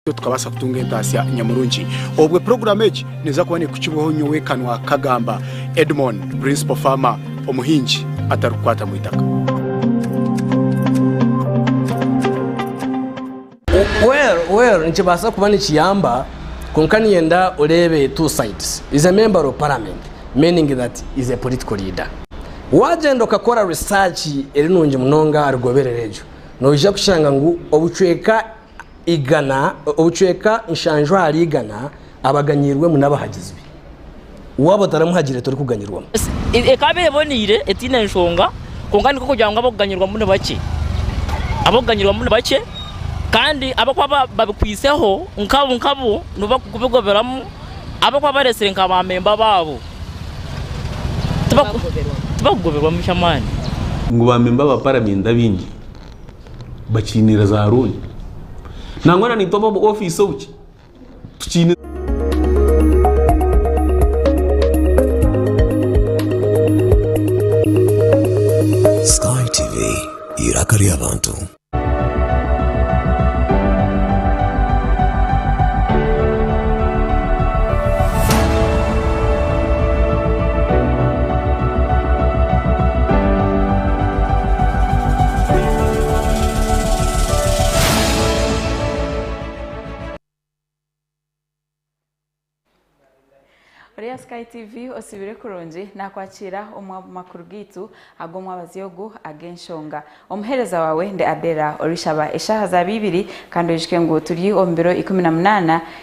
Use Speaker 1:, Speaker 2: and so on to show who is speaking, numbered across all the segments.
Speaker 1: Nitwe tukabaasa kutunga entaasya nyamurungi. Obwe puroguraamu egi neeza kuba neekukibwaho nyowe kanwa kagamba, Edmon, Principal Farmer, omuhingi atarikukwata mu itaka.
Speaker 2: Well well nikibaasa kuba nikiyamba kwonka niinyenda oreebe two sides. Is a member of parliament meaning that is a political leader. Waagyenda okakora research eri nungi munonga aha rigoberero eryo noija kushanga ngu obucweka igana, obucweka nshanju ahari igana abaganyirwemu n'abahagizi be. Waaba otaramuhagire torikuganyirwamu. Ekaba
Speaker 3: eboneire, etaine nshonga, kwonka nikwo kugira ngu ab'okuganyirwamu ni bakye. Ab'okuganyirwamu ni bakye, kandi ab'okuba babikwiseho nkabo nkabo nibo barikubigoberamu, ab'okuba bareetsire nka baamemba baabo tibakugoberwamu ky'amaani. Ngu baamemba
Speaker 4: ba Paramenti abaingi bakiinire za looni nangwa na naitwe ab'omu ofiisi obuki tukiine
Speaker 5: Sky TV, iraka ry'abantu.
Speaker 6: Ori aha Sky TV otsibire kurungi nakwakira omu makuru gaitu ag'omwabazi ogu ag'enshonga. Omuhereza wawe ndi Adela orishaba eshaha zaba ibiri kandi oyijuke ngu turi omu biro ikumi na munana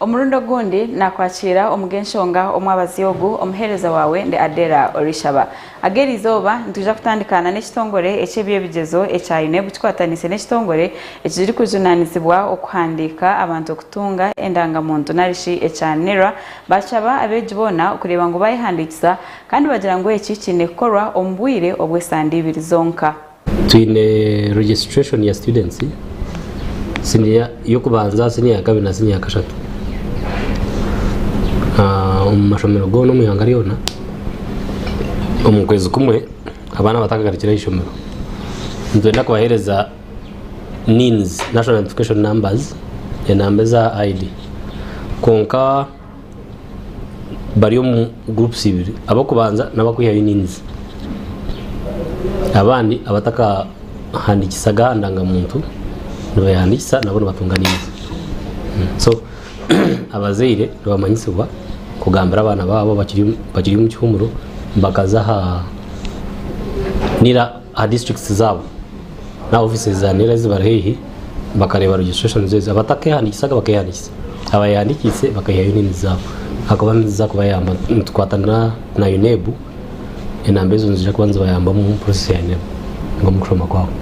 Speaker 6: Omurundi ogundi naakwakiira omu g'enshonga omwabazi ogu, omuheereza waawe ndi Adela Orishaba. Ag'eri izooba nitwija kutandika na n'ekitongore eky'eby'ebigyezo ekya UNEB kikwataniise n'ekitongore ekirikujunaanizibwa okuhandiika abantu okutunga endangamuntu narishi ekya NIRA baashaba abeegi boona okureeba ngu baayehandiikisa kandi bagira ngu eki kiine kukorwa omu bwire obw'esande ibiri zonka. Twine
Speaker 2: registration ya students siniya yokubanza siniya yakabiri na siniya yakashatu omumashomero gona omwihanga ryona omukwezi kumwe abana batakagarukire ahishomero nitwenda kubahereza nins, national identification numbers, enamba eza ID kwonka bari omu groups ibiri abakubanza nabakwihayo enyingizi abandi abatakahandikisaga aha ndangamuntu nibehandikisa nabo nibatunga enyingizi so abazaire nibamanyisibwa kugambira abaana baabo bakiri omu kihumuro bakaza aha aha districts zaabo n'aha offices za nera ezibari haihi bakareeba registrations ezo abatakehanikisaga bakehandikiisa abayehandikiise bakayihayo na unions zaabo ahakuba niziza kubayamba nitukwatana na UNEB enamba ezo niziija kuba nizibayambamu omu process ya UNEB ninga omu kushoma kwaabo.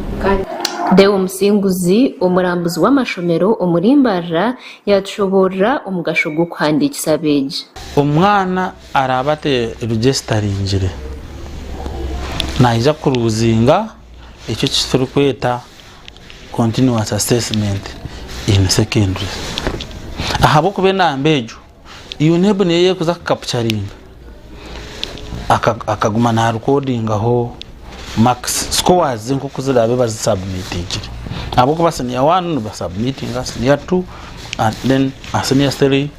Speaker 2: Deo
Speaker 7: Musinguzi, omurambuzi w'amashomero omuri Mbarara yaatushoboorora omugasho gw'okuhandiikisa abeegi. Omwana
Speaker 8: Araabe ate ebigye kitaringire, naija kuruuzinga eki ekiturikweta continuous assessment in secondary ahabw'okuba enamba egyo UNEB niyo erikuza kukapucaringa akaguma naarikodingaho makisi scores ze nk'oku ziraabe bazisabumitingire ahabw'okuba siniya waani nibasabumitinga siniya tu, siniya tiri.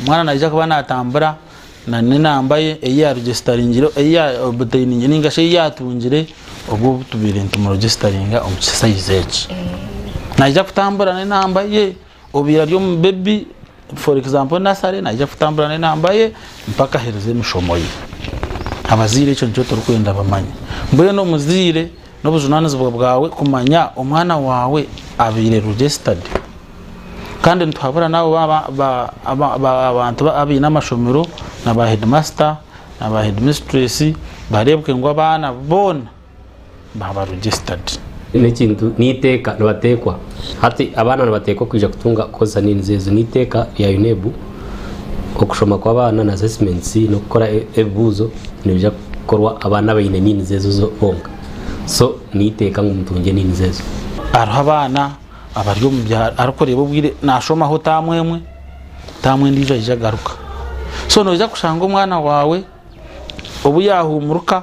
Speaker 8: Omwana naija kuba naatambura na n'enamba ye ei yaarugisitaringire ei yaobutainingire ninga shi ei yaatungire obwo obu tubaire nitumurugisitaringa omu kisayizi eki. Naija kutambura n'enamba ye obubaire ari omu bebi for example nasare naija kutambura n'enamba ye mpaka aherize emishomo ye. Abazaire ekyo nikyo turikwenda bamanye. Mbwenu omuzaire. N'obujunanizibwa bwawe kumanya omwana waawe abaire registered kandi nituhabura naabo abantu abaine amashomero na ba headmaster na ba headmistress bareebwe ngu abaana boona baaba registered. N'ekintu
Speaker 2: n'eiteeka nibateekwa hati abaana nibateekwa kwija kutunga kukoresa needs ezo n'eiteeka rya UNEB. Okushoma kw'abaana na assessments n'okukora ebibuuzo nibiija kukorwa abaana abaine needs ezo bonka. So n'eiteeka ngu mutungye needs ezo. Hariho abaana
Speaker 8: abari omu byaro arikureeba obwire naashomaho taamu emwe, taamu endiijo aija agaruka. So noija kushanga omwana waawe obu yaahuumuruka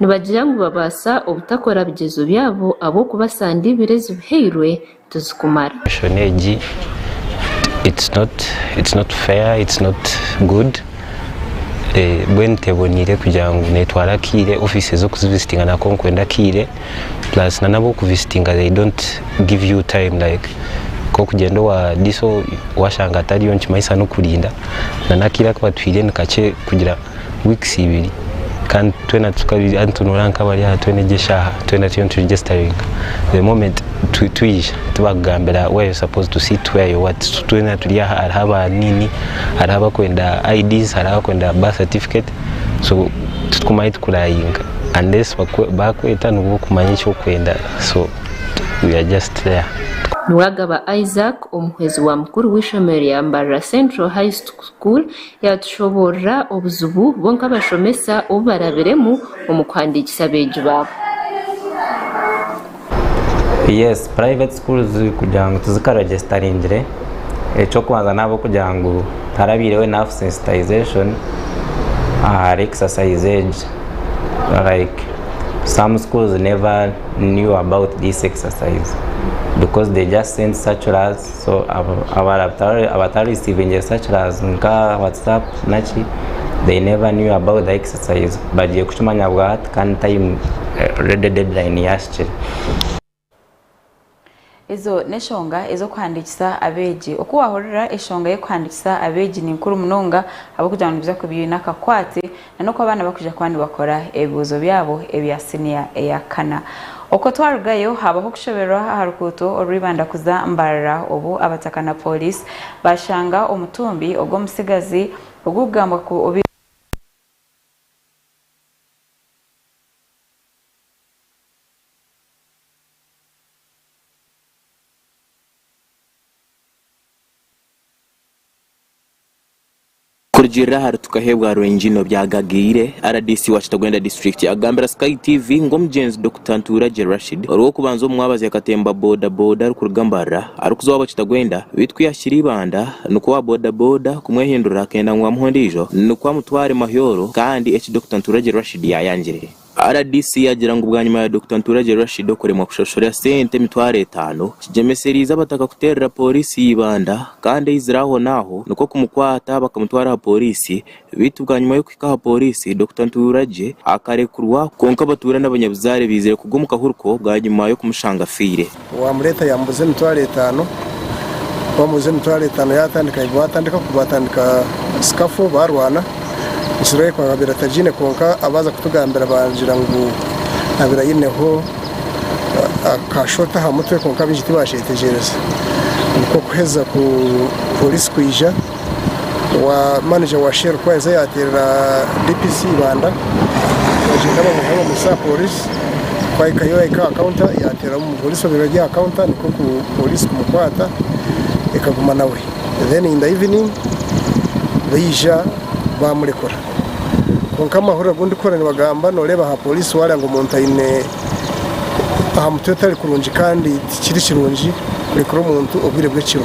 Speaker 7: Nibagira ngu babaasa obutakora bigyezo byabo ahabw'okuba sande ibiri ezi bihairwe tizikumara. Enshono egi
Speaker 9: it's not it's not fair it's not good mbwenu teboniire kugira ngu netwara akaire office ez'okuzivisitinga nako nikwenda akaire plus nana ab'okuvisitinga they don't give you time like nk'okugyenda owa diso washanga atariyo nikimanyisa n'okurinda nana akaire aku batwiire nikakye kugira weeks ibiri kandi twena tukabiri hati nitunura nkabari aha twena egi eshaaha twena turiyo nituregestaringa the moment twi- twija tibakugambira where you supposed to sit where you what so twena turi aha hariho aba nini hariho abakwenda IDs hariho abakwenda birth certificate so titukumanya ahu tukurayinga unless bakwe- bakweta nibwo okumanya eki okwenda so we are just there. Niwagaba
Speaker 7: Isaac, omuhwezi wa mukuru w'eishomero rya Mbarara Central High School Yaatushoboorora obuzibu bo nk'abashomesa obu barabiremu omu kuhandiikisa abeegi baabo.
Speaker 10: Yes, private schools kugira ngu tizika regestaringire, eky'okubanza n'ahabw'okugira ngu tarabaireho enough sensitization ahari exercise egi. Like some schools never knew about this exercise because they just send circulars. so abatarisivingyire sakilazi nka watsapu naki they never knew about the exercise bagiye kukimanya bwa hati kandi tayimu redi dedilayini yahikire.
Speaker 6: Ezo n'eshonga ez'okuhandiikisa abeegi. Oku waahurira eshonga y'okuhandiikisa abeegi ni nkuru munonga ahabw'okugira ngu nibiija kuba biine akakwate na n'oku abaana bakwija kuba nibakora ebibuuzo byabo ebya siniya eya kana. Okwo twarugayo, haabaho okushoberwa aha rukuuto orwa Ibanda kuza Mbarara obu abataka na pooriisi baashanga omutumbi ogw'omutsigazi ogurikugambwa ku obaire
Speaker 11: Kurugiirira ahari Tukaheebwa Rwengino byagagaire, rdc wa Kitagwenda District akugambira Sky TV ngu omugyenzi Dokita Ntuuragye Rashid orw'okubanza omu mwabazi akatemba boda boda arikuruga Mbarara arikuza owaabo Kitagwenda beitu ku yaahikire Ibanda nikwo owa boda boda kumwehindurira akenda ngu amuhe ondiijo nikwo amutware Mahyoro kandi eki Dokita Ntuuragye Rashid yaayangire Rdc yaagira ngu bwanyima ya Dokita Nturagye Rashid okuremwa kushashura sente emitwaro etaano, kigyemesereize abataka kuteerera Pooriisi y'eibanda kandi aizire ahonaaho nikwo kumukwata bakamutwara aha Pooriisi beitu bwanyima y'okuhika aha Pooriisi, Dokita Nturagye akarekurwa. Kwonka abatuura n'abanyabuzaare baizire kugwa omu kahuriko bwanyima y'okumushanga afiire. Owaamureeta yaamuguza
Speaker 12: emitwaro etaano. Ku waamuguza emitwaro etaano yaatandika ngu baatandika ku baatandika sikafu baarwana. Israel ku akabaire atagiine kwonka abaaza kutugambira baagira ngu abaire aineho aka shot aha mutwe kwonka baingi tibaakyetegyereza. Nikwo kuheza ku pooriisi kwija. Maneja wa Shell Kwanza yaateerera DPC Ibanda omugyenda bamuha bamutsya aha pooriisi. Ku ahikayo yahika aha kaunta yaateerera omupooriisi obeire ari aha kaunta nikwo pooriisi kumukwata ekaguma nawe. Then in the evening baija baamurekura. Kwonka amahurire agu ndikuhurira nibagamba nooreeba aha pooriisi waareeba ngu omuntu aine aha mutwe etari kurungi kandi tikiri kirungi kurekura omuntu obwire bw'ekiro.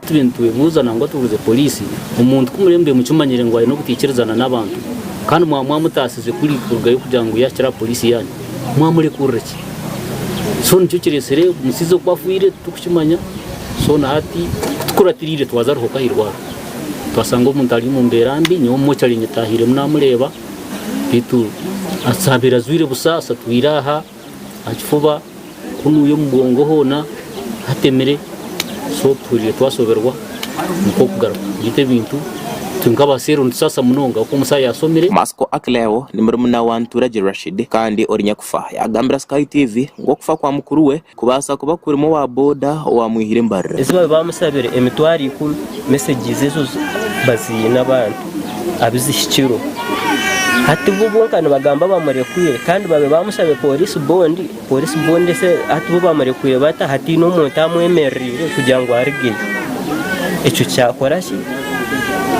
Speaker 11: Turiyo nitwehuuza
Speaker 2: nangwa tubuuze poriisi, omuntu ku muremurire mukimanyire ngu aine obutaikirizana n'abantu kandi mwaba mwamutaasize kuri kurugayo kugira ngu yaahikire aha poriisi yaanyu, mwamurekurira ki? So nikyo kiretsire omusaiza okuba afwire turikukimanya. So na hati tikuratiriire twaza Ruhoka aha irwariro twashanga omuntu ari omu mbeera mbi, nyowe mochari nyetaahiremu naamureeba beitu azabeire ajwaire busa asatwire aha. aha kifuba kunuya omugongo hoona hatemire so tuhuriire twashoberwa nikwo okugaruka beitu ebintu itwe nk'abaseero nitusaasa munonga ahabw'okuba omusaho yaasomire. Masco Akileo
Speaker 11: ni murumuna wa Nturagye Rashid kandi ori nyakufa yaagambira Sky TV ngu okufa kwa mukuru we kubaasa kuba kurimu owa boda owaamwihire embarira. Ezi baabaire baamusabire
Speaker 13: emitwaro ikumi, mesegizi ezo baziine abantu. abizihikirwe. Hati bo bonka nibagamba bamurekwire kandi babe bamushabe police bond, police bond ese hati bo bamurekwire bata hataine omuntu amwemereriire kugira ngu arigeyo? Ekyo kyakora ki?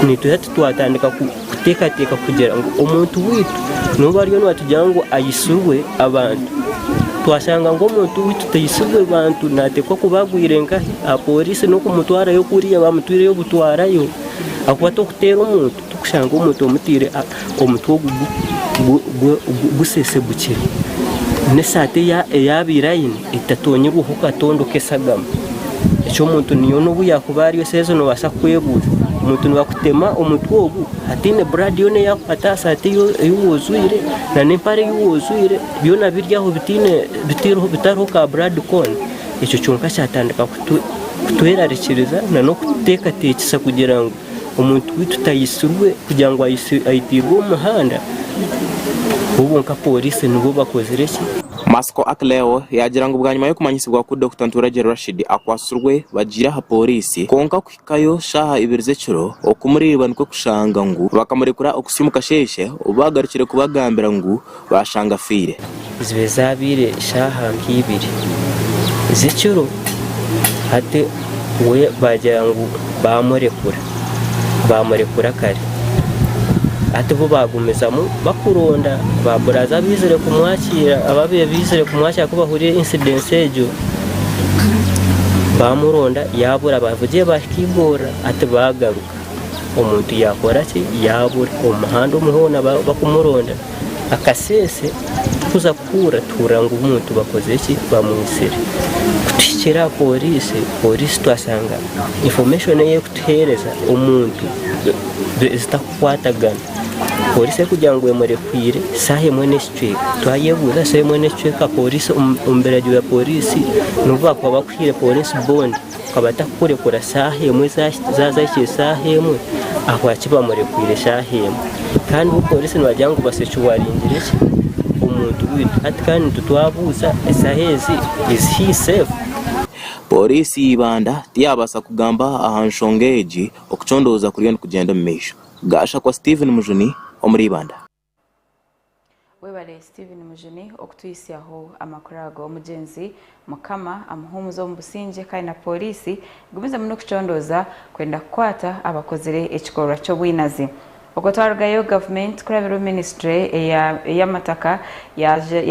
Speaker 13: Nituza titwatandika kuteekateeka kugira ngu omuntu waitu nobu ariyo nibatugira ngu aitsirwe abantu, twashanga ngu omuntu waitu taitsirwe bantu nateekwa kuba agwire nkahi? Aha police n'okumutwarayo kuriya bamutwireyo butwarayo. Ahakuba t'orikuteera omuntu t'orikushanga omuntu omutaire omutwe ogu gusesegukire, n'esaati ei yaabaire aine etatonyirweho katondo k'eshagama. Eki omuntu yoona ou yaakuba ari esaaha ezi noobaasa kukwebuuza, omuntu nibakutema omutwe ogu hataine buraadi yoona eyaakukwata aha saati ei waajwaire n'empare ei waajwaire byona biri aho bitariho ka buraadi koona. Ekyo kyonka kyatandika kutwerarikiriza n'okututeekateekyesa kugira ngu omuntu waitu taitsirwe kugira ngu aitairwe omu muhanda bo bonka pooriisi nibo bakozire ki? Masiko Akleo
Speaker 11: yaagira ngu bwanyima y'okumanyisibwa ku Dokita Nturagye Rashid akwatsirwe, bagiire aha pooriisi kwonka Kuhikayo shaaha ibiri z'ekiro okumureeba nikwo kushanga ngu bakamurekura oku siimu kasheeshe obu baagarukire kubagambira ngu baashanga afiire. Zibe zaabaire
Speaker 13: shaaha nk'eibiri z'ekiro hati we baagira ngu baamurekura, baamurekura kare. Hati bo baagumizamu bakuronda ba buraza abaizire kumwakiira, abaabaire baizire kumwakiira ku bahurire incidence egyo. bamuronda yabura abavugire bahika igorora ati bagaruka omuntu yakora ki yabura omuhanda omu hona bakumuronda akasese tukuza kuhurira tuhurira ngu omuntu bakoze ki bamwitsire kutuhikira aha poriisi poriisi twasanga information eyi ekutuhereza omuntu zitakukwatagana poriisi ekugira ngu emurekwire saha emwe. Twayebuuza shi emwe n'ekicweka pooriisi omu biragiro bya pooriisi n'obu baakuba bakuhaire pooriisi bondi akaba atakukurekura shaaha emwe zaaza hikire shaaha emwe ahabwaki bamurekwiire shaaha emwe kandi bo pooriisi nibagira ngu batsya eki waringire ki omuntu waitu hati kandi itwe twabuuza eshaaha ezi is he safe? Pooriisi
Speaker 11: ya Ibanda tiyaabaasa kugamba aha nshonga egi okucondooza kuriyo nikugyenda omu maisho. Gashakwa Steven Mujuni omuri Ibanda.
Speaker 6: Webale Steven Mujuni okutwitsyaho amakuru ago omugyenzi mukama amuhumuze omu busingye kandi na Poliisi egumize muno okucondooza kwenda kukwata abakozire ekikorwa ky'obwinazi Okwo twarugayo gavumenti kurabirwe minisitule eyamataka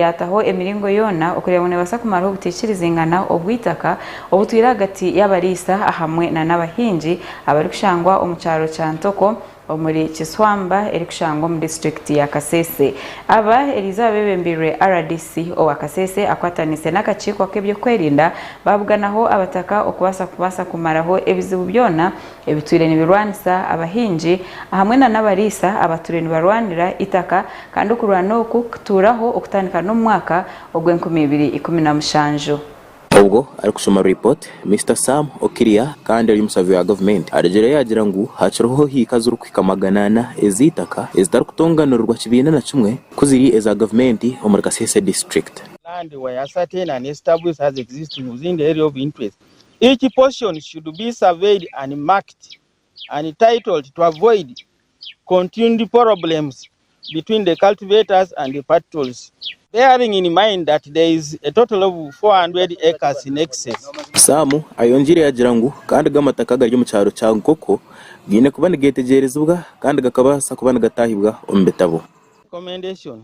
Speaker 6: yataho emiringo yoona okureeba ngu nebaasa kumaraho obutaikirizingana obw'eitaka obutwire ahagati y'abariisa ahamwe nana abahingi abarikushangwa omu kyaro kya Ntoko omuri Kiswamba erikushangwa omu disiturikiti ya Kasese. Aba erizooba bebembeirwe rdc owa Kasese akwataniise n'akakiiko ak'ebyokwerinda babuganaho abataka okubaasa kubaasa kumaraho ebizibu byona ebitwire nibirwanisa abahingi ahamwe na n'abariisa abatwire nibarwanira itaka kandi okurwana oku kituuraho okutandika n'omu mwaka ogw'enkumi ibiri ikumi na mushanju. Obwo arikushoma
Speaker 11: report, Mister Sam Okiria kandi ari omusavi wa gavumenti arugireyo yagira ngu hakiriho hiika zirikuhika magana ana ez'eitaka ezitarikutonganirirwa kibiina na kimwe ku ziri eza gavumenti omuri Kasese district. land where
Speaker 14: certain and established as existing within the area of interest, each portion should be surveyed and marked Untitled to avoid continued problems between the cultivators and the patrols bearing in mind that there is a total of 400 acres in excess.
Speaker 11: Sam ayongiire yagira ngu
Speaker 14: kandi
Speaker 11: go amataka agari omu kyaro kya
Speaker 14: Nkoko
Speaker 11: gaine kuba nigetegyerezibwa kandi gakabaasa kuba nigataahibwa omu bitabo. Recommendation,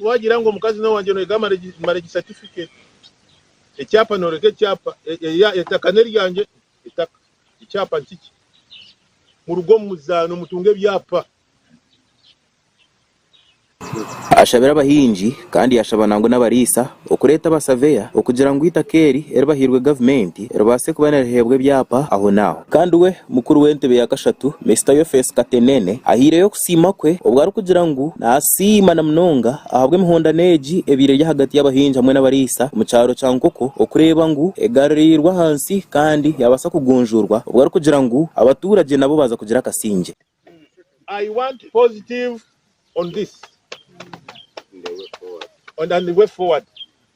Speaker 15: Wagira ngu omukazi n'owangye noyega marriage certificate, ekyapa noreka ekyapa, etaka n'eryangye, etaka, ekyapa nikikye. Muruga omu muzaano mutunga ebyapa.
Speaker 11: Ashabira abahingi kandi yashaba nangwa n'abariisa okureeta abasaveya okugira ngu eitaka eri eribahairwe gavumenti ribaase kuba niriheebwa ebyapa ahonaaho. Kandi we mukuru w'entebe ya kashatu Mister Yofesi Katenene ahaireyo kusaba. Okusiima kwe obu arikugira ngu naasiima na munonga ahabw'emihondano egi ebaire eri ahagati y'abahingi hamwe n'abariisa omu kyaro kya Nkoko okureeba ngu egaruriirwe ahansi kandi yaabaasa kugunjuurwa obu arikugira ngu abatuuragye nabo baaza kugira akasingye. I
Speaker 15: want positive on this and way forward.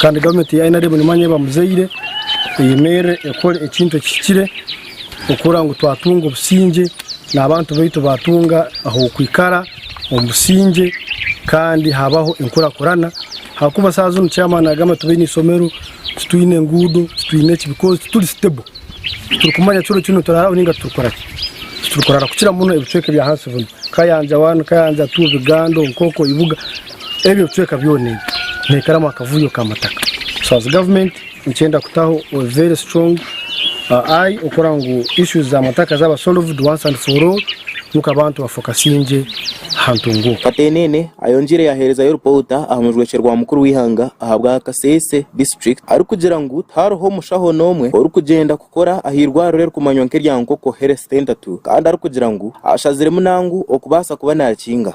Speaker 15: Kandi gavumenti
Speaker 12: ya nrm nimanya eba muzaire eyemerire ekore ekintu ekihikire okukora ngu twatunga obusingye nabantu baitu batunga ahokwikara omu busingye kandi habaho enkurakurana ahakuba saha zinu chairman nagamba tibaine isomero titwine engudo titwine ki because tituri stable titurikumanya kiro kinu nituraraho ninga titurikoraki titurikurara kukira muno ebicweka ebyahansi binu kayanja one kayanja two bugando nkoko ibuga. Ebyo bicweka byona ebi nihikaramu akavuyo ka mataka so as government nikyenda kutaho a very strong uh, eye okukora ngu issues za mataka zaba solved once and for all ngu abantu bafokasinge aha ntungo oku. Katenene
Speaker 11: ayongiire yaherezayo ripoota aha mujwekye rwa mukuru w'eihanga ahabwa Kasese district arikugira ngu tihariho mushaho n'omwe orikugyenda kukora aha irwariro erikumanywa nk'erya Nkoko Health Centre tu kandi arikugira ngu ashaziremu nangu okubaasa kuba nakinga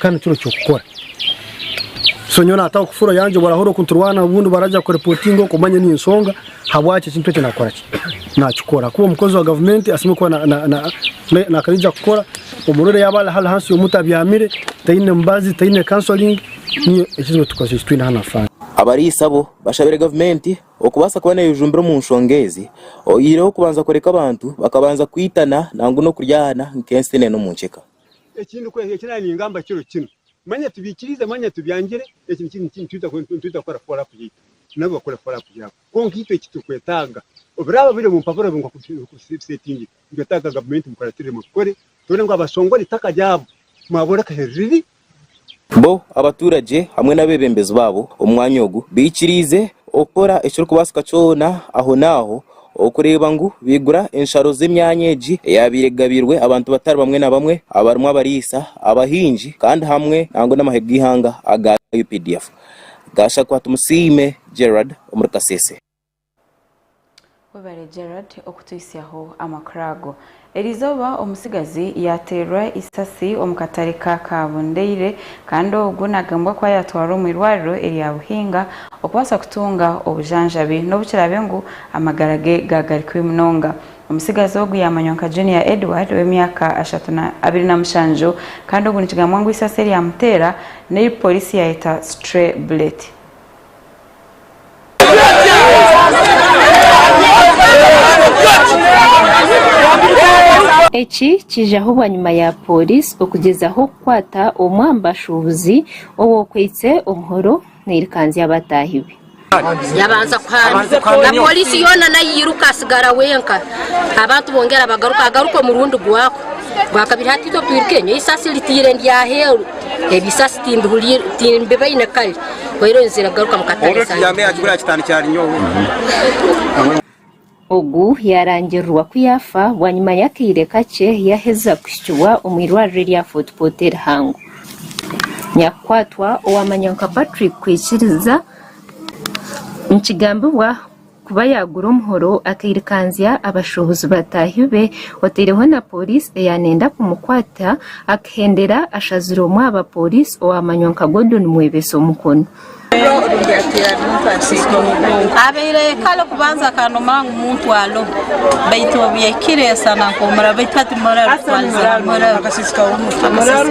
Speaker 12: Ka nikyo orikira kukora. So nyowe naataho kufuro yangye obwo arahurira okunturwana obundi baragira kuripotinga okwo manye ni ensonga habwaki ekintu ekyo nakora ki? Nakikora ahakuba omukozi wa gavumenti asemeriire kuba na- na- na- na- nakaija kukora. Omurwaire yaaba ari ari hansi y'omuti abyamire, taine mubazi, taine counselling, niyo ekizibu ekitukwasi ekitwine hanu ha faamu. Abariisa abo
Speaker 11: bashabire gavumenti okubaasa kuba neejumbira omu nshonga ezi oyihireho kubanza kureka abantu bakabanza kwitana nangwa n'okuryahana nk'enseenene omu nceka. Eki
Speaker 16: ningamba kiro kinu, mwanya tubiikiriize, mwanya tubyangire, eki nitwitakora follow up yaitu, nabo bakore follow up yaabo. Kwonka itwe eki turikwetaaga, oburaaba buri omu mpapura nk'oku biseetingire, nitwetaaga gavumenti mukuratiremu, mukore, tubone ngu abashongore eitaka ryabo mwabooreka ehi riri, Bo
Speaker 11: abaturage hamwe n'abebembezi baabo omu mwanya ogu baikiriize okukora ekirikubaasika kyona ahonaaho okureeba ngu baigura ensharo z'emyanya egi eyaabaire egabiirwe abantu batari bamwe na bamwe abarimu abariisa, abahingi kandi hamwe nangwa n'amahe g'eihanga aga updf gaashakwatumusiime Gerald omuri Kasese.
Speaker 6: Webare Gerald okutuhisyaho amakuru ago. Erizooba omutsigazi yateerwa eisasi omu katare ka Kabundeire kandi ogu nagambwa kuba yatwarwa omu irwariro erya Buhinga okubaasa kutunga obujanjabi nobu kiraabe ngu amagara ge gaagari kubi munonga. Omutsigazi ogu yamanywa nka Junior Edward ow'emyaka abiri na mushanju kandi ogu nikigambwa ngu eisasi eryamuteera neri Poliisi yaayeta stray bullet.
Speaker 7: Eki kiijaho bwanyima ya Pooriisi okugyezaho kukwata omwe aha bashuubuzi ow'okwaitse omuhoro nairikanzya abataahi be. Yabanza
Speaker 17: kuhaamirwa. Pooriisi yoona nayo yairuka atsigara wenka. Abantu bongera bagaruka, agaruka omurundi gwako gwakabiri. Hati itwe twiruke, nyowe eisasi nditaire ndi aheeru, ebisaasi timbibaine kare.
Speaker 7: Ogu yaarangirirwa ku yaafa bwanyima y'akaire kakye yaaheza kuhikibwa omu irwariro erya Fort Portal Rihango nyakukwatwa owaamanywa nka Patrick Kwikiriza nikigambibwa Kuba yaagura omuhoro, akairikanzya abashuubuzi bataahi be, oteireho na pooriisi eya nenda kumukwata, akihendera ashazire omwe aha bapooriisi owaamanywa nka Gordon Mwebesa omukono.
Speaker 18: Abaire ayeekara okubanza akanuma ngu muntwalo baitu obu yahikire yasanga nkoomuraro baitu hati muraro kutwariza ngu muraro. Akasisika w'omuraro.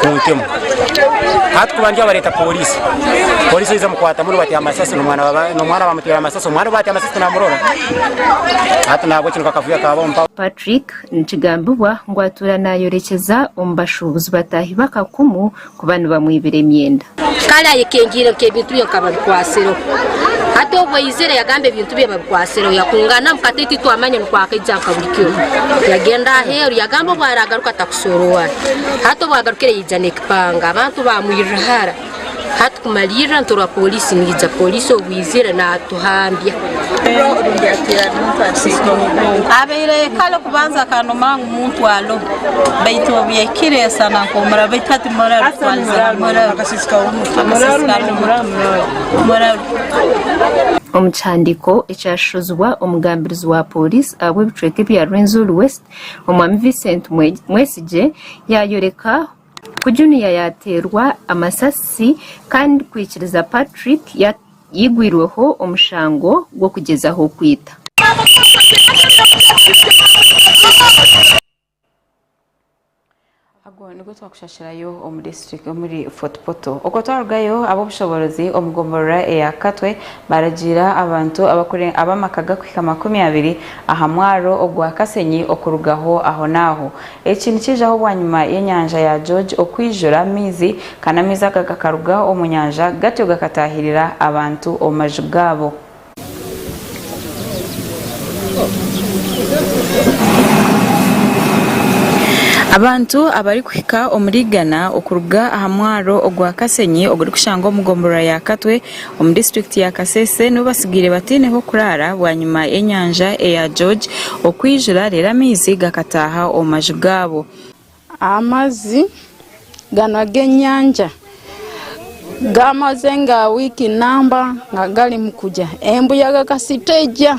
Speaker 19: kuntemu hati kuba ndi abareta polisi polisi oyiza mukwata muri bati amasasi nomwana nomwana bamutera amasasi omwana bati amasasi tinamurora hati nabwo kino kakavuya kaba omupa Patrick
Speaker 7: nikigambibwa ngu atuura nayorekyeza omu bashuubuzi bataahi b'akakumu kuba nibamwibira emyenda. Kare ayekengyeire
Speaker 17: nka ebintu bye nka babikwatsireho. Hati obu aizire yagamba ebintu bye babikwatsireho. Yakungana omu katebe titwamanya nikwo akaija nka buri kiro. Yagenda aheru yagamba obu aragaruka atakushoora owu ari. Hati obu agarukire yaija n'ekipanga. Abantu bamwirira hara. Hati kumalirra nitworwa polisi neija. Polisi obu izire natuhambya.
Speaker 18: Abaire kare okubanza akanuma ngu. muntwalo baitu obyekire sana nkomura baitu hati muraru twalize ha muraru akasisika w'omutwe muraru Omu kihandiiko
Speaker 7: ekyashashuzibwa omugambirizi wa pooriisi ahabw'ebicweka ebya Rwenzori West, Omwami Vincent Mwesigye, yaayoreka Ku Junior yaateerwa amasasi kandi kwikiriza Patrick yaigwirweho omushango gw'okugyezaho kwita.
Speaker 6: Agwo nigwo twakushashirayo omuri Fort Portal. Okwo twarugayo, ab'obushoboorozi omu gomborora eya Katwe baaragiira abantu ab'amaka gakuhika makumi abiri aha mwaaro ogwa Kasenyi okurugaho ahonaaho. Eki nikiijaho bwanyima y'enyanja ya George okwijura amaizi, kandi amaizi aga agakaruga omu nyanja gatyo gakataahirira abantu omu maju gaabo. Abantu abarikuhika omuri igana okuruga aha mwaro ogwa Kasenyi ogurikushangwa omu gomborora ya Katwe, Omu district ya Kasese nibo batsigaire bataineho kuraara bwanyima y'enyanja eya George okwijura reero amaizi gakataaha omu maju gaabo. Amazi
Speaker 20: ganu ag'enyanja gamaze nga wiiki namba nga garimu kugya embuyaga kasita egya.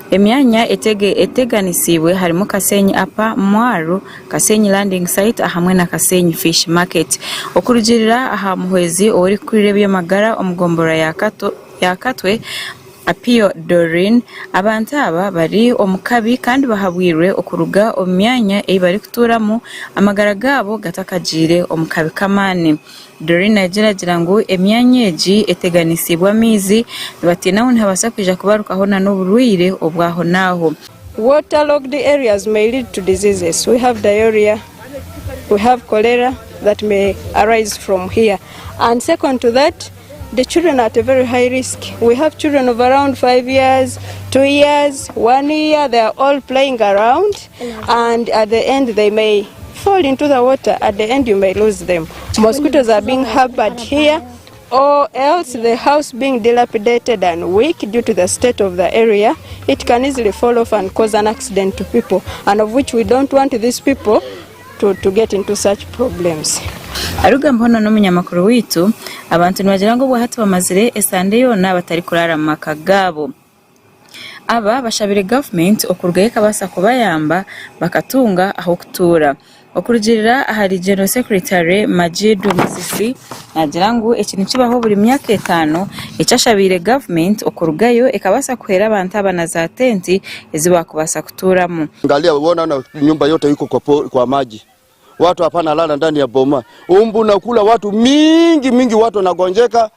Speaker 21: Emyanya
Speaker 6: eteganisiibwe harimu Kasenyi Upper, Mwaru, Kasenyi Landing Site ahamwe na Kasenyi Fish Market. Okurugiirira aha muhwezi ow'orikukurira eby'amagara omu gombolola ya Katwe, Apio Doreen, abantu aba bari omu kabi kandi bahabwirwe okuruga omu myanya ei barikutuuramu amagara gaabo gatakagiire omu kabi k'amaani. Doreen agira agira ngu emyanya egi eteganisiibwe amaizi nibatiina ngu nihabaasa kwija kubarukaho nana oburwaire obwaho naaho. Water logged
Speaker 21: areas may lead to diseases we have diarrhoea, we have cholera that may arise from here and second to that the children are at a very high risk we have children of around five years, two years, one year they are all playing around. Aruga muhono n'omunyamakuru
Speaker 6: waitu. Abantu nibagira ngu obwa hati bamazire esande yoona batarikuraara mu maka gaabo. Aba bashabire gavumenti okurugayo ekabaasa kubayamba bakatunga ah'okutuura. Okurugiirira ahari General Secretary Majid Musisi naagira ngu eki nikibaho buri myaka etaano eki ashabiire gavumenti okurugayo ekabaasa kuheera abantu aba na zaatenti ezi baakubaasa
Speaker 1: kutuuramu.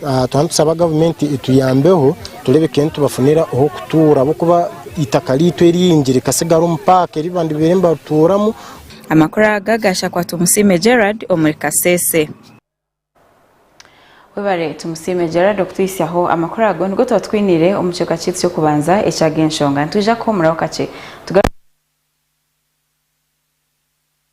Speaker 22: Twaba nitusaba gavumenti etuyambeho tureebe ka nitubafunira ah'okutuura ahabw'okuba eitaka ryaitu eringi rikatsigara omu paaka eri bandibaire nibarituuramu. Amakuru aga
Speaker 6: gaashakwa Tumusiime Gerald omuri Kasese. Webare Tumusiime Gerald okutuhitsyaho amakuru ago. Nigo tuba tukwiniire omu kicweka kyaitu ky'okubanza eky'agenshonga. Nitwija kuhuumuraho kakye tugaruke.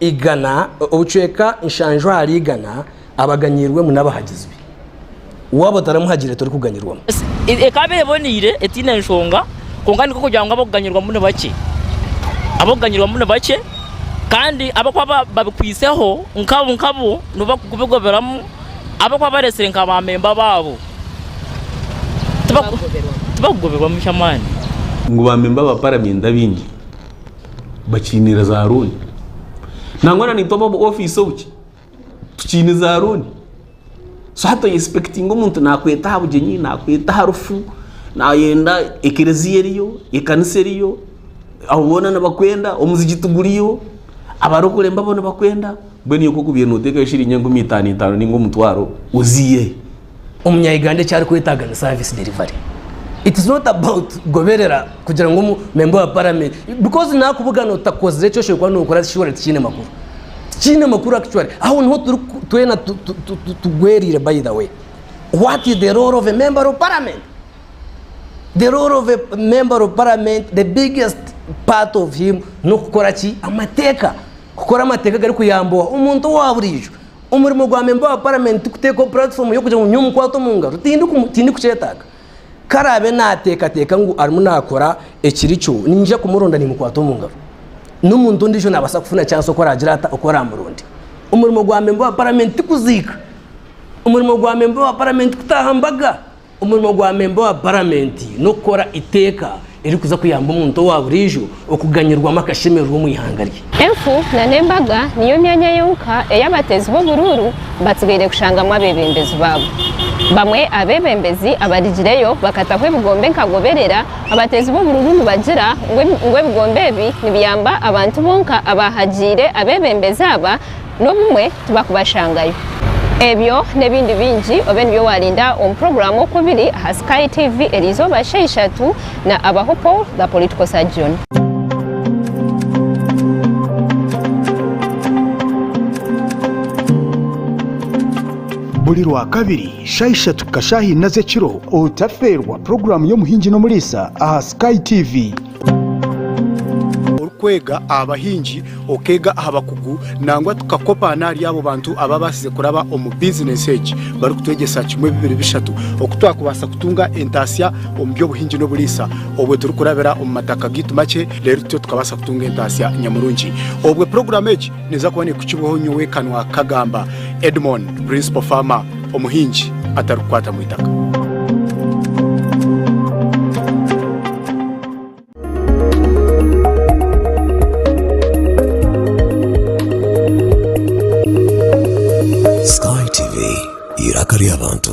Speaker 2: igana, obucweka nshanju ahari igana abaganyiirwemu n'abahagizi be. Waaba otaramuhagire torikuganyirwamu. Ekaba
Speaker 3: eboneire, etaine nshonga, kwonka nikwo kugira ngu ab'okuganyirwamu ni bakye. Ab'okuganyirwamu ni bakye kandi ab'okuba babikwiseho nkabo nkabo nibo barikubigoberamu, ab'okuba bareetsire nka baamemba baabo tibakugoberwamu ky'amaani. Ngu baamemba
Speaker 4: ba paramenti abaingi bakiinire za looni nangwa na nitwe ab'omu ofiisi obuki tukiine za looni so hati oyesipekitinga omuntu nakweta aha bugyenyi nakweta aha rufu nayenda ekereziya eriyo ekanisa eriyo abo boona nibakwenda omuzigiti guriyo abarokore mbabo nibakwenda mbwenu iwe nk'okubaire notekayo shiringi enkumi itaano itaano ninga omutwaro oziiyeyo? Omunya Uganda
Speaker 2: eki arikwetaaga ni service delivery. It is not about kugoberera kugira ngu omu member wa parliament because nakubugana otakozire eki oshoboye kuba nokora surely tikiine makuru. Tikiine makuru actually. Aho niho turi twena tugwerire by the way. What is the role of a member of parliament? The role of a member of parliament the biggest part of him nokukora ki? Amateeka. Kukora amateeka gari kuyamba omuntu owa buriijo. Omurimo gwa memba wa paramenti tikuteekaho puratifomu y'okugira ngu nyowe mukwate omu ngaro, tindikukyetaaga. Ku araabe naateekateeka ngu arimu naakora ekiri kyo, niinyija kumuronda niimukwata omu ngaro. N'omuntu ondiijo naabaasa kufuna chansi oku araagira ata oku araamuronde. Omurimo gwa memba wa paramenti tikuziika. Omurimo gwa memba wa paramenti kutaaha mbaga. Omurimo gwa memba wa Paramenti n'okukora eiteeka eririkuza kuyamba omuntu owa buriijo okuganyirwamu akashemererwa omu ihanga rye. Enku na
Speaker 7: n'embaga niyo myanya yonka ei abateezi b'oburuuru batsigaire kushangamu abeebembezi baabo. Bamwe aha beebembezi abarigireyo bakataho ebigombe nka Goberera abateezi b'oburuuru nibagira ngu ebigombe ebi nibiyamba abantu bonka abaahagiire abeebembezi aba n'obumwe tibakubashangayo. Ebyo n'ebindi bingi obe nibyo waarinda omu puroguraamu Okubiri aha Sky TV eriizooba sha ishatu na Abaho Paul the Political Surgeon.
Speaker 23: Buri Rwakabiri sha ishatu kukashaaha ina z'ekiro otafeerwa puroguraamu y'Omuhingi n'Omuriisa aha Sky TV. Orikwega aha bahingi, okeega aha bakugu nangwa tukakopa n'ahari abo bantu abaabaasize kuraba omu bizineesi egi barikutwegyesa kimwe bibiri bishatu oku twakubaasa kutunga entaasya omu by'obuhingi n'oburiisa. Obwe turikurabira omu mataka gaitu makye reero tutyo tukabaasa kutunga entaasya nyamurungi. Obwe puroguraamu egi Neeza kuba neekukibwaho nyowe ekanwa, kagamba Edmon, Principal Farmer, omuhingi atarikukwata mu itaka.
Speaker 5: Sky TV, eiraka ry'abantu.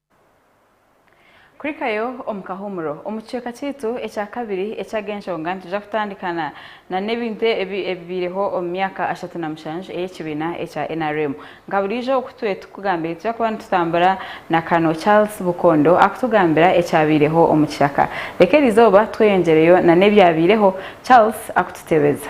Speaker 6: Kuhikayo omu kahuumuro. Omu kicweka kyaitu ekya kabiri eky'aga enshonga nitwija kutandika na na n'ebintu ebi ebibaireho omu myaka ashatu na mushanju ey'ekibiina ekya nrm. Nka buriijo oku tube tukugambire nitwija kuba nitutambura na Colonel Charles Bukondo akutugambira ekyabaireho omu kishaka. Reka eri izooba tweyongyereyo na n'ebyabaireho Charles akututebeza.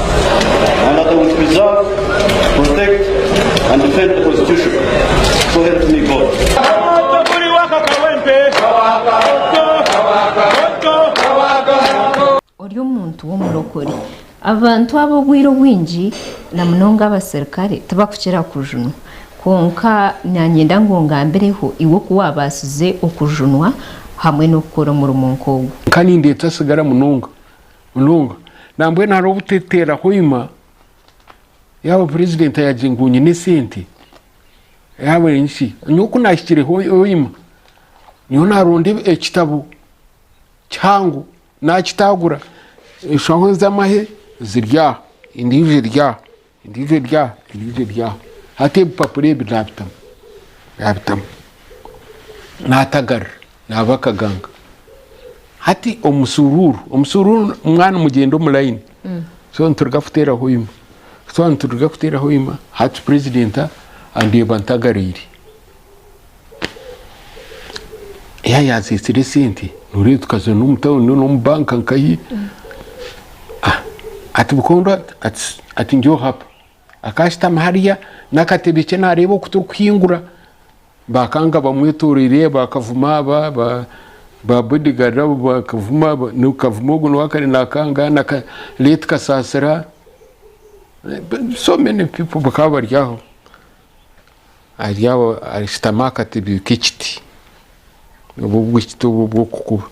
Speaker 7: Ori omuntu w'omurokore. Abantu abo obwire obwingi na munonga abaserukare tibakukira kujunwa. Kwonka nanyenda ngu ongambireho iwe oku waabasize okujunwa hamwe n'okukora omurimo nk'ogu. Ka nindeetwa sigara
Speaker 4: munonga Munonga. Nambwenu hariho obuteteera hoima yaaba purezidenti ayagye ngu nyine esente yaaba enki nyowe ku naahikire hoima nyowe naaronda ekitabo kihango naakitaagura enshaho z'amahe ziri aha endiijo eri aha Endiijo eri aha, endiijo eri aha. Hati ebipapura ebi naabitamu, naabitamu. Naatagarira, naaba akaganga. Hati omusuruuru, omusuruuru mwaba nimugyenda omu layini, so nituruga kuteeraho ima. Ku twaba nituruga kuteeraho ima, hati purezidenti andeeba ntagariire. Yaaba yaaziitsire esente nooreeba tukaza n'omu tauni n'omu banka nkahi. Ah, Ati bukondo ati- ati- ati nyowe hap. Akaashutama hariya n'akatebe ke naareeba oku turikuhingura. Baakanga bamwetoroire baakavuma aba ba- ba bodyguard abo baakavuma ba- nikavuma ogwo niwe akare naakanga na ka late kasaasira, so many people bakaba bari aho. Ari aho arishutama aha katebe k'ekiti, obu obwo ekiti obu obw'okukuba.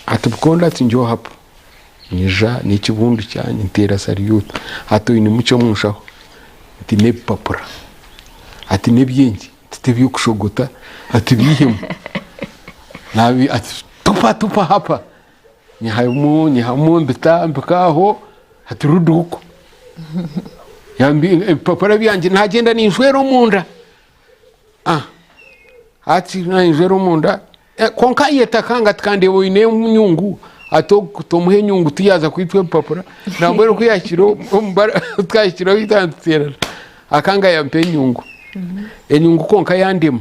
Speaker 4: Ati Bukondo ati Nyowe hapwa nyija n'ekibundu kyangye nteera salyuuti. Ati Oinemu ki omu nshaho? Nti N'ebipapura. Ati N'ebyengye? Nti T'eby'okushogota. Ati Biihemu. Naabi ati Tupa tupa hapa! Nyihamu nyihamu mbita mpika aho hati ruduuku ebipapura byangye nagyenda ninjwera omunda ah, hati ninjwera omunda eh, kwonka ayeta kanga ati kandi oine enyungu ati tomuha enyungu tuyaza kwitwa ebipapura nambwera oku yahikire omubara twahikire ohu itantutera akanga yampa enyungu enyungu kwonka yandema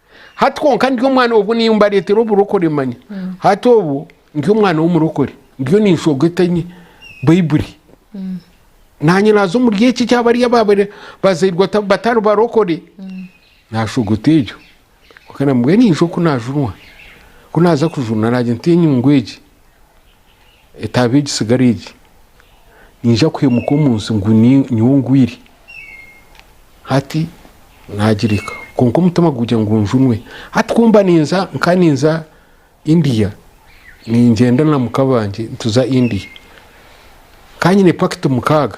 Speaker 10: Hati kwonka ndi omwana obu niyo mbareetera oburokore manya hati obu ndi omwana w'omurokore ndiyo ninshogeta enye baibuli nanye naaza omuri eki eki abari ababire bazairwe ata- batari barokore nashogota egyo kwonka namubwira ninza oku najunwa ku naza kujunwa nagye nti enyungu egi Etaabe egi sigara egi. Niija kwimuka omu nsi ngu nyowe ngwire. Hati naagireka. Kwonka omutima gugira ngu njunwe. Hati ku mba ninza, nkaba ninza India, ningyenda na muka bangye nituza India. Nkaba nyine pakiti mukaaga.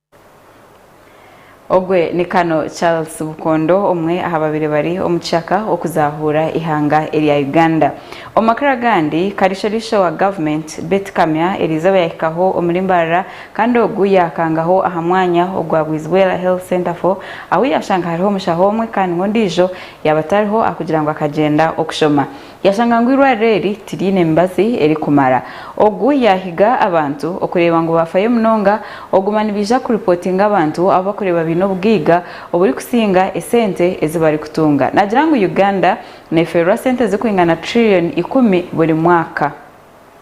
Speaker 6: Ogwe ni Kano Charles Bukondo omwe ahababaire bari omu kishaka okuzahuura ihanga erya Uganda. Omu makuru agandi, Kariisho-riisho wa government Beti Kamya eriizooba yahikaho omuri Mbarara kandi ogu yakangaho aha mwanya ogwa Bwizibwera Health Centre for ahu yashanga hariho omushaho omwe kandi ngu ondiijo yaaba tariho ahakugira ngu akagyenda okushoma. Yashanga ngu eirwariro eri tiriine mibazi erikumara. Ogu yaahiga abantu okureeba ngu baafayo munonga, oguma nibaija kuripotinga abantu abu bakureeba baine obugaiga oburikusinga esente ezi barikutunga. Naagira ngu Uganda neeferwa sente zirikwingana trillioni ikumi buri mwaka.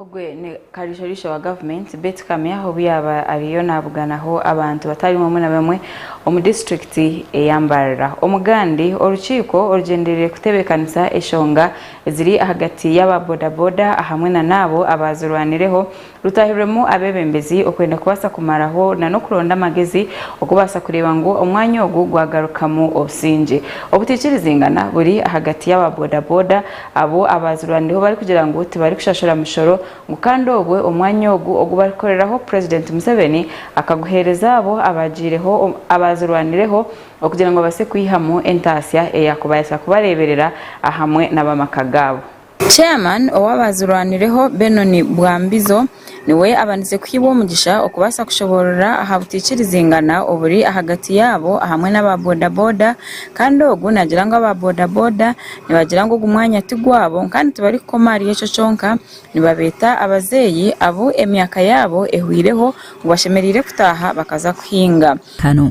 Speaker 6: Ogwo ni kariisharitsha wa gavumenti Beti Kamya obu yaaba ariyo nabuganaho abantu batari bamwe na bamwe omu disiturikiti eya Mbarara. Omugandi orukiiko orugyendereire kutebeekanisa eshonga eziri ahagati y'aba boda boda ahamwe nana abo abaazirwanireho rutahirwemu abeebembezi okwenda kubaasa kumaraho na n'okuronda amagezi okubaasa kureeba ngu omwanya ogu gwagarukamu obusingye. Obutaikirizingana buri ahagati y'aba bodaboda abo abaazirwanireho barikugira ngu tibarikushashura mishoro ngu kandi obwe omwanya ogu ogu barikukoreraho Purezidenti Museveni akaguheereza abo abaagiireho abaazirwanireho okugira ngu babaase kwihamu entaasya eyaakubaasa kubareeberera ahamwe n'ab'amaka gaabo. Chairman ow'abaazirwanireho Benon Bwambizo niwe abanize kuhibwa omugisha okubaasa kushoboorora aha butaikirizingana oburi ahagati yaabo ahamwe n'aba boda boda kandi ogu naagira ngu aba boda boda nibagira ngu ogu mwanya ti gwabo kandi tibarikukoma ahari ekyo kyonka nibabeeta abazeeyi abu emyaka yaabo ehweireho ngu bashemereire kutaaha bakaza kuhinga. ataano.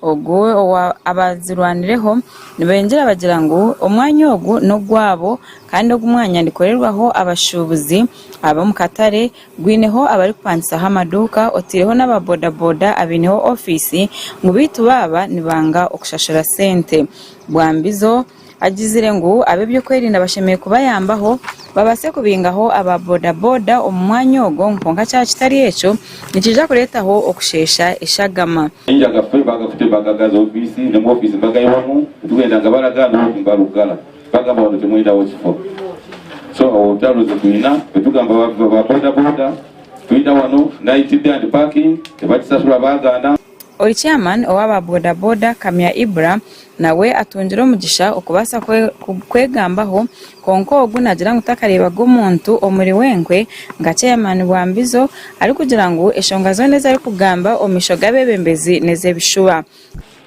Speaker 6: Ogwo owa abazirwanireho nibengyera bagira ngu omwanya ogu n'ogwabo kandi ogu mwanya nikorerwaho abashuubuzi ab'omu katare Gwineho abarikupangisaho amaduuka, oteireho n'aba bodaboda abaineho ofiisi ngu beitu baaba nibanga okushashura sente. Bwambizo agizire ngu ab'ebyokwerinda bashemereire kubayambaho babaase kubingaho aba bodaboda omu mwanya ogwo ngu kwonka kyaba kitari ekyo nikiija kureetaho okusheesha eshagama. Enjaga ffe baga
Speaker 12: kutema gaga za ofiisi, nemu ofiisi bagayiwamu, titugenda nga baraga, n'obundi mbarugara. Bagamba bari oti mwine awokifo so otaruzi kwina betugamba ba boda boda twine awano night day and parking tebakisasura bagana. Ori chairman
Speaker 6: owa ba boda boda Kamya Ibra nawe atungire omugisha okubasa kwegambaho kwonka ogu nagira ngu takarebaga omuntu omuri wenkwe nka chairman wa mbizo arikugira ngu eshonga zona ezarikugamba omumisho gabebembezi nezebishuba.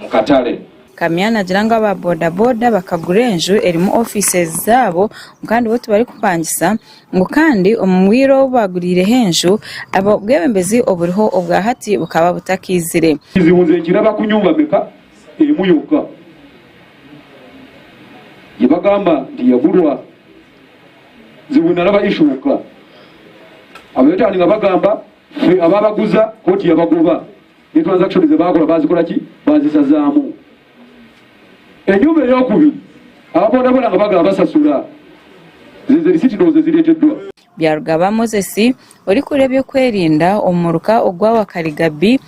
Speaker 12: mu katare. Kamya naagira ngu
Speaker 6: aba bodaboda bakagura enju erimu ofiises zaabo ngu kandi bo tibarikupangisa ngu kandi omu bwire obu baaguriireho enju, obwebembezi oburiho obwa hati bukaba butakaizire. Ekizibu nze nkiraba
Speaker 12: kunyunga meka emu yokka ei bagamba nti yagurwa. Nze we naraba ishooka abayetaaninga bagamba ffe abaabaguza kooti yabagoba. Nitubanza kushemeza baakora baazikora ki? Baazisazaamu. Enyomba ey'okubiri, aba bodaboda nga baagala basasura. Zeezo risiiti ndowooza ezireeteddwa. Byarugaba
Speaker 6: Moses, orikukora eby'okwerinda omu muruka ogwa Wakali Gabi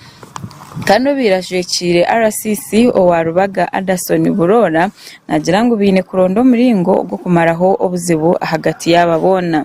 Speaker 6: kandi obaire ajwekiire RCC owa Rubaga Adason Buroora naagira ngu baine kuronda omuringo gw'okumaraho obuzibu ahagati yaaba boona.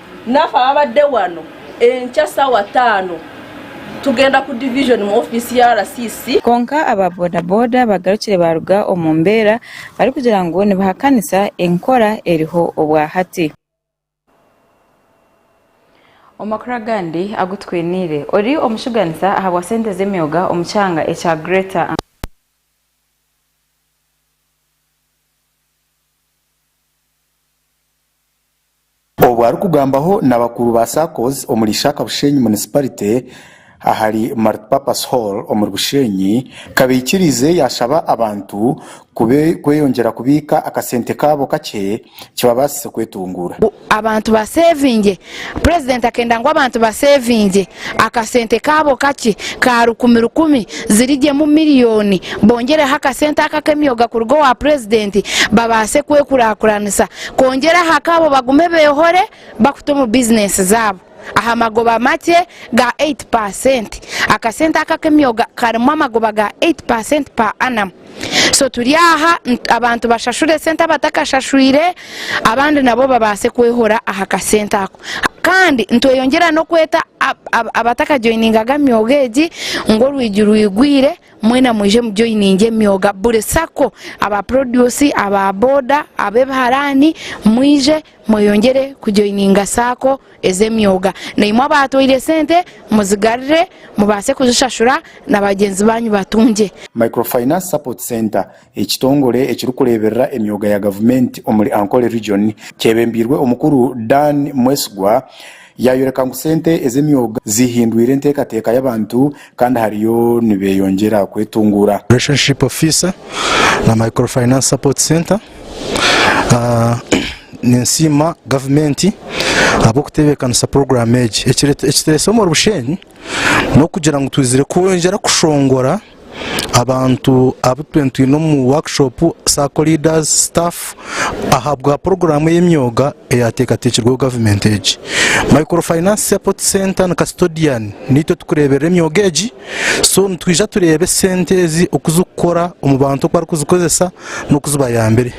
Speaker 14: Nafa abade wano enkya sawa tano tugenda ku division mu office ya RCC. Kwonka aba boda
Speaker 6: boda bagarukire baaruga omu mbeera barikugira ngu nibahakanisa enkora eriho obwahati. Omu makuru agandi agu twiniire, ori omushuganisa ahabwa sente z'emyoga omu kyanga ekya Greater.
Speaker 23: Obu arikugambaho na bakuru ba SACCOS omuri Ishaka Bushenyi Municipality ahari Multipurpose Hall omuri Bushenyi kabaikiriize yashaba abantu kweyongyera kubiika akasente kaabo kakye kibabaasise kwetunguura. Abantu
Speaker 15: baseevinge Purezidenti akenda ngu abantu baseevingye akasente kaabo kakye ka rukumi rukumi ziri gye mu miriyoni, bongyereho akasente ako ak'emyoga kuruga owa Purezidenti babaase kwekurakuranisa kwongyera aha kaabo bagume beehore bakuta omu bizinensi zaabo aha magoba makye ga eyiti paasenti. Akasente ako ak'emyoga karimu amagoba ga eyiti paasenti per annum. so turi aha abantu bashashure sente abatakashashwire abandi nabo babaase kwehora aha kasente ako kandi nitweyongyera n'okweta abatakajoyiningaga myoga egi ngu orwigi rwigwire mwena mwije mujoyininge emyoga buri sako aba produce aba boda ab'ebiharaani mwije Mweyongyere kujoininga saako ez'emyoga. Naimwe abaatwaire sente muzigarure mubaase kuzishashura na bagyenzi baanyu batungye. Microfinance
Speaker 11: Support Centre, ekitongore ekirikureeberera emyoga ya gavumenti omuri Ankole Region, kyebembeirwe omukuru Dan Mwesigwa, Yaayoreka ngu sente ez'emyoga zihindwire enteekateeka y'abantu kandi hariyo nibeeyongyera kwetunguura. Relationship Officer
Speaker 16: na Micro Finance Support Centre, Ninsiima gavumenti ahabw'okutebeekanisa puroguraamu egi. Ekitureetsire omu Bushenyi n'okugira ngu twizire kwongyera kushongora. abantu abu tube nitwine omu workshop sacco leaders staff ahabwa poroguraamu y'emyoga eyateekateekirweho gavumenti egi micro finance support center na custodian niitwe turikureeberera emyoga egi so nitwija tureebe sente ezi oku zirikukora omu bantu oku barikuzikozesa n'oku zibayambire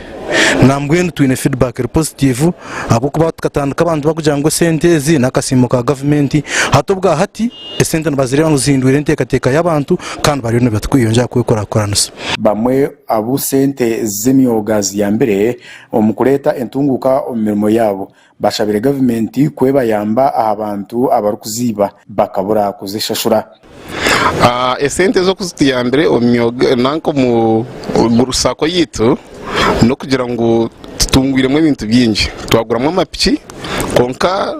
Speaker 16: nambwenu twine feedback eri positive ahabw'okuba tukatandika abantu barikugira ngu esente ezi n'akasiimo ka gavumenti hati obwahati esente nibazireeba ngu zihindwire enteekateeka y'abantu kandi bariyo nibakweyongyera kwekurakuranisa. Bamwe abu
Speaker 11: sente z'emyoga ziyambire omu kureeta entunguuka omu mirimo yaabo, bashabire gavumenti ku ebayamba aha bantu abarikuziiba bakabura kuzishashura.
Speaker 4: Esente ezo ku zituyambire omu myoga nanka omu Gulu sacco yaitu n'okugira ngu tutungwiremu ebintu bingi, twaguramu amapiki kwonka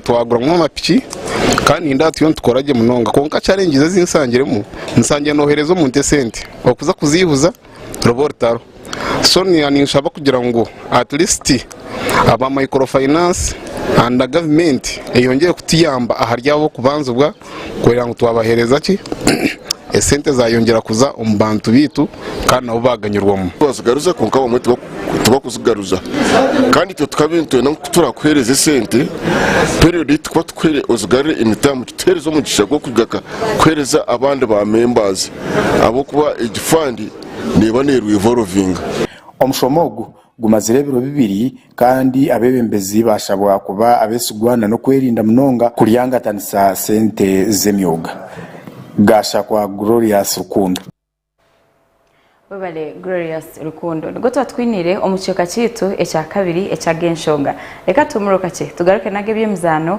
Speaker 4: twaguramu amapiki kandi nindeeba turiyo nitukora gye munonga kwonka challenges ezi nsangiremu nsangire nohereza omuntu esente okuza kuziihuza ruba orutaro so niiya ninshaba kugira ngu at least aba micro finance and gavumenti eyongyere kutuyamba ahari abo kubanzibwa. Kurera ngu twabahereza ki? Esente zayongyera kuza omu bantu baitu kandi nabo baganyirwamu. Twazigaruza kwonka abamwe
Speaker 19: tibakuzigaruza kandi itwe tukaba nitwenda ngu ku turakuhereza esente periyodi ei tukuba tukuhaire ozigarure emitamu kituhereze omugisha gw'okugaruka kuhereza abandi ba membaazi ahabw'okuba egi fandi neeba neerwa ivorovinga. Omushomo ogu
Speaker 11: Gumazire ebiro bibiri kandi abeebembezi baashabwa kuba abeesigwa na n'okwerinda munonga kuryangatanisa sente z'emyoga. Gashakwa Glorious Rukundo. Webale
Speaker 6: Glorious Rukundo. Nigwo tuba tukwiniire omu kicweka kyaitu ekyakabiri eky'ag'enshonga. Reka tuhumurwe kakye tugaruke n'ag'eby'emizaano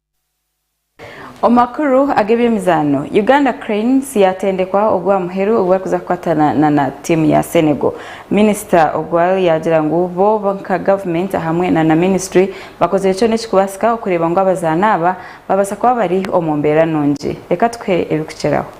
Speaker 6: Omu makuru ag'ebyemizaano, Uganda Cranes yaatendekwa ogwa muheru ogu barikuza kukwatana na na tiimu ya Senegal. Minisita Ogwal yaagira ngu bo nka gavumenti ahamwe na na minisitule bakozire kyona ekirikubaasika okureeba ngu abazaani aba baabaasa kuba bari omu mbeera nungi. Reka tukuhe ebikukiraho.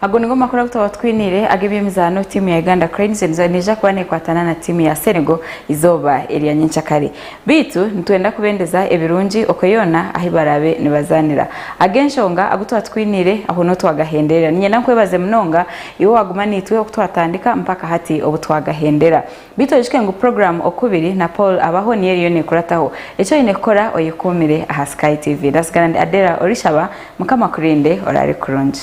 Speaker 6: Ago nigo makuru agu twaba twiniire ag'eby'emizaano. Tiimu ya Uganda Cranes neija kuba neekwatana na tiimu ya Senegal eizooba erya nyenkyakare. Beitu nitwenda kubendeza ebirungi okwe yoona ahu baraabe nibazaanira. Ag'enshonga agu twaba twiniire aho n'obu twagahenderera. Niinyenda nkwebaze munonga iwe owaaguma naitwe oku twatandika mpaka hati obu twagahendera. Beitu oyijuke ngu puroguramu Okubiri na Paul Abaho niyo eriyo nekurataho. Eki oyine kukora oyekuumire aha Sky TV. Ndasigara ndi Adella Orishaba. Mukama akurinde oraare kurungi.